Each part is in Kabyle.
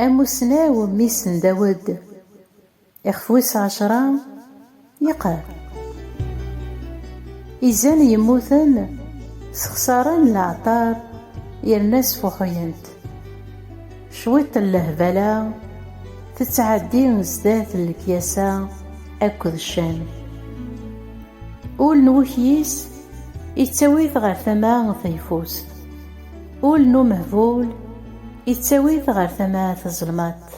Amussnaw Missen Dawed, ixef wis ɛecra, yeqqar, Izan yemmuten ssexṣaren leɛṭer yerna sfuḥuyent. Cwiṭ n lehbala tettɛeddi sdat n lekyasa akked ccan. Ul n wekyis. ittawi-t ɣer tama tayfust. Ul n umehbul ittawi-t ɣer tama tzelmaḍt.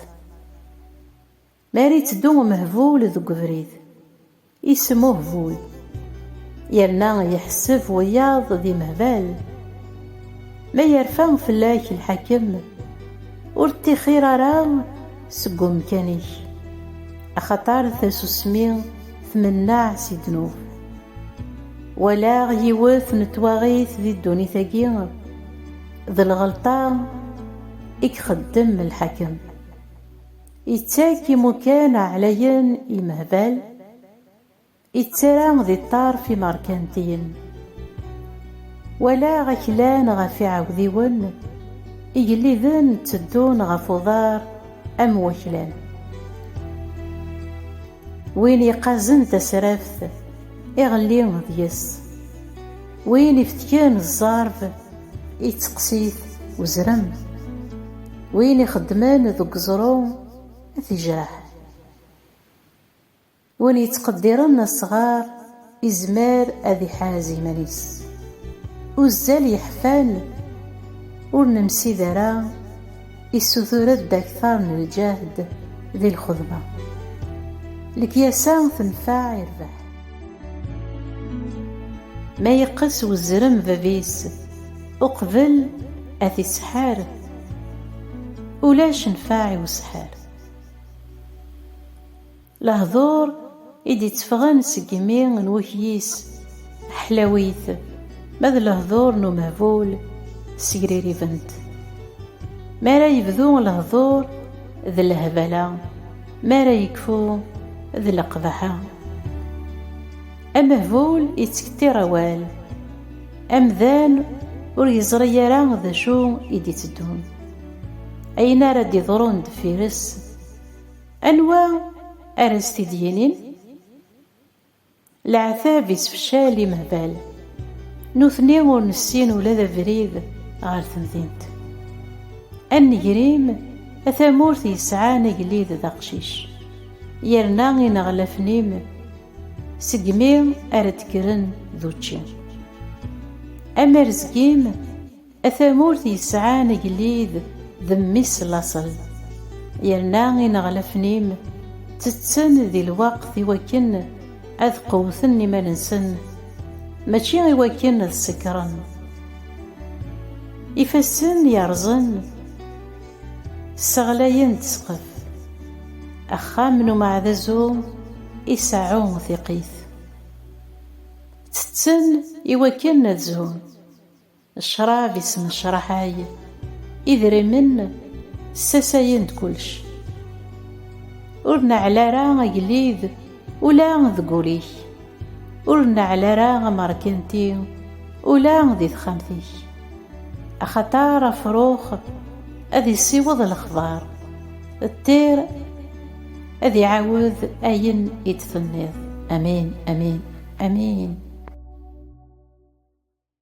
Mi ara itteddu umehbul deg ubrid, ismuhbul, yerna yeḥseb wiyaḍ d imehbal. Ma yerfa fell-ak lḥakem, ur ṭṭixir ara seg umkan-ik, axaṭer tasusmi tmenneɛ si ddnub. walaɣ yiwet n twaɣit di ddunit-agi d lɣelṭa i ixeddem lḥakem, ittak imukan ɛlayen i imehbal, ittarra di ṭṭerf imerkantiyen. Walaɣ aklan ɣef iɛawdiwen, igelliden tteddun ɣef uḍar am waklan. Win yeqqazen tasraft, iɣelli deg-s. Win ifetken zzerb, itteqqes-it uzrem. Win ixeddmen deg uẓru, ad t-ijreḥ. Win yettqeddiren asɣar. izmer ad iḥaz iman-is. Uzzal yeḥfan, ur nemsid ara, issutur-ed aktar n lǧehd di lxedma. Lekyasa tenfeɛ irbeḥ. Ma yeqqes uzrem bab-is uqbel ad t-isḥar, ulac nnfeɛ i usḥar. Lehdur i d-itteffɣen seg imi n wekyis, ḥlawit, ma d lehdur n umehbul, ssegriribent. Mi ara yebdu lehdur, d lehbala, mi ara yekfu, d leqbaḥa. Amehbul ittkettir awal, amdan ur yeẓri ara d acu i d-iteddun, ayen ara d-iḍrun deffir-s. Anwa ara s-t-id-yinin? Leɛtab isefcal imehbal. Nutni ur nessin ula d abrid ɣer temdint. A negrim, a tamurt yesɛan agellid d aqcic. Yerna ineɣlafen-im segmi ara d-kkren d učči. Amerzg-im. A tamurt yesɛan agellid d mmi-s laṣel, yerna ineɣlafen-im ttetten di lweqt i wakken ad qewwten iman-nsen, mačči i wakken ad sekkṛen. Ifassen yerrẓen sseɣlayen-d ssqef. Axxam n umeɛdazu iseɛɛu tiqqit. Ttetten i wakken ad zhun. Ccrab yesnecraḥay idrimen, ssasayen-d kullec. Ur neɛɛel ara agellid ula deg ul-ik, ur neɛɛel ara amerkanti ula di texxamt-ik. Axaṭer afrux ad issiweḍ lexbar, ṭṭir ad iɛawed ayen i d-tenniḍ. Amin, amin, amin.